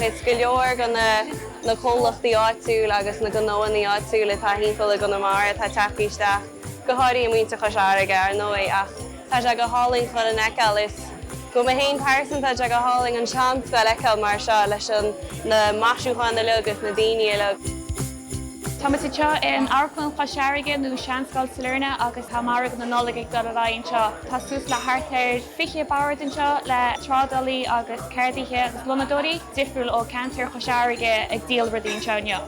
Is go leor de na comhlachtaí áitiúla agus na gnóthaí áitiúla atá timpeall i gConamara atá teacht isteach, go háirithe i muintir Chois Fharraige, ar ndóigh, ach tá sé go hálainn chuile dhuine a fheiceáil is, dom féin pearsanta, tá sé go hálainn an tseanscoil a fheiceáil mar seo leis na maisiúcháin uilig is na daoine uilig. Tá muid anseo in Amharclann Chois Fharraige, nó Seanscoil Sailearna, agus tá margadh na Nollag ag dul ar aghaidh anseo. Tá suas le thart ar 20 bord anseo le trádálaí agus ceardaithe agus lónadóirí difriúil ó cheantar Chois Fharraige ag díol rudaí anseo inniu.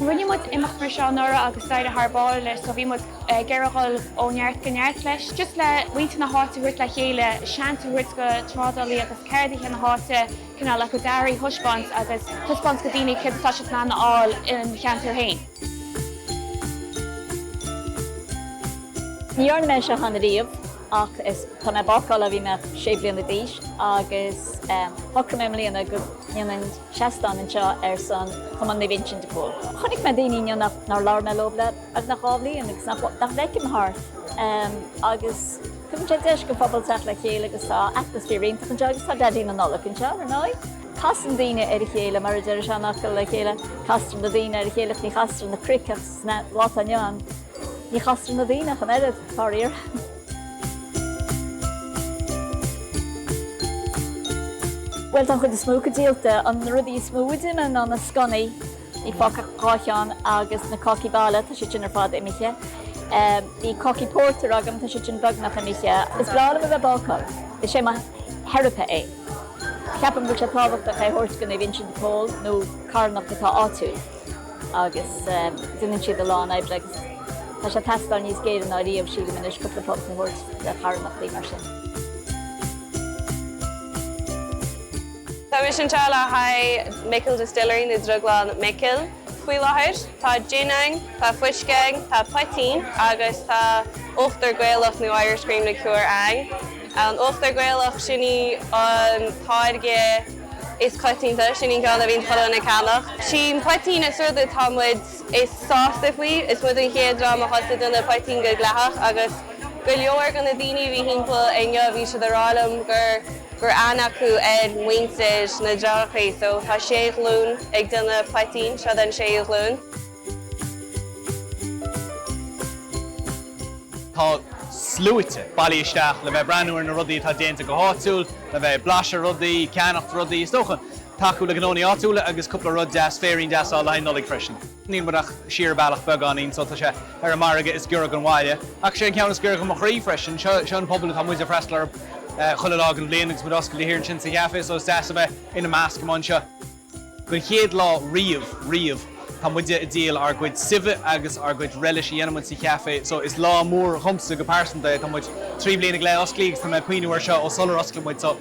Rinne muid imeacht mar seo anuraidh agus d'éirigh thar barr leis so bhí muid ag iarraidh dhul ó neart go neart leis, just le muintir na háite a thabhairt le chéile, seans a thabhairt go trádálaí agus ceardaithe na háite. cineál a gcuid earraí a thaispeáint agus taispeáint go daoine céard atá siad in ann a fháil ina cheantar féin. Ní dhearna mé seo cheana riamh ach is, tá mé bácála ó bhí mé sé bliana d'aois agus shocraigh mé i mbliana go ndéanfainn seastán anseo ar son Chumann Naomh Uinseann de Pól. Chonaic mé daoine nár labhair mé leo le beagnach dhá bhliain agus nach bhfeicim thart agus. Tugann sé deis don phobal teacht le chéile agus tá atmaisféar iontach anseo agus tá Daidí na Nollag anseo, ar ndóigh. Casann daoine ar a chéile, mar a deir an seanfhocal le chéile, castar na daoine ar a chéile ach ní chastar na cnoic ach sa lá atá inniu ann ní chastar na daoine ach an oiread, faraor. Bhuel, tá an chuid is mó acu díolta. An rud is mó a d'imigh ná na scónaí. Níl fágtha ach dhá cheann agus na cácaí baile, tá siad sin ar fad imithe. Bhí cácaí pórtair agam, tá siad sin beagnach imithe. Is breá liom a bheith bácáil. Is é mo theiripe é. Ceapaim go bhfuil sé tábhachtach é a thabhairt go Naomh Uinseann de Pól nó carthanacht atá áitiúil agus déanann siad a lán oibre agus tá sé ag teastáil níos géire ná riamh, sílim anois, cúpla punt a thabhairt do charthanachtaí mar sin. Táimid anseo le haghaidh Micil Distillery nó Drioglann Mhicil faoi láthair. Tá jin ann, tá fuisce ann, tá poitín agus tá uachtar Gaelach nó Irish Cream Liqueur ann. An uachtar Gaelach, sin í an táirge is coitianta, sin í an ceann a bhíonn chuile dhuine ag ceannach. An poitín is rud atá muid. Is sásta faoi. Is muid an chéad dream a thosaigh ag déanamh poitín go dleathach agus go leor go na daoine a bhí thimpeall inniu bhí siad a rá liom go raibh aithne acu ar mhuintir na deartháireachaí so tá sé ghlúin ag déanamh poitín, seo den séú ghlúin. Tá sluaite bailithe isteach le bheith ag breathnú ar na rudaí atá déanta go háitiúil, le bheith ag blaiseadh rudaí, ceannacht rudaí. Is dócha tacú le gnónna áitiúla agus cúpla rud deas, féirín deas le haghaidh na Nollag freisin. Níl muid ach siar bealach beagáinín so tá sé ar an margadh is giorra gon bhaile. Ach is é an ceann is giorra go mo chroí freisin. Seo seo an pobal atá muid ag freastal orthu chuile lá den bhliain agus muid oscailte thiar ansin sa cheafé so is deas a bheith ina measc amuigh anseo. Don chéad lá riamh riamh tá muide ag díol ár gcuid suibhe agus ár gcuid relish a dhéanann muid sa cheafé so is lá mór dhomsa go pearsanta é. Tá muid trí bliana go leith osclaí agus tá mé ag cuimhneamh ar seo ó sular osclaigh muid so.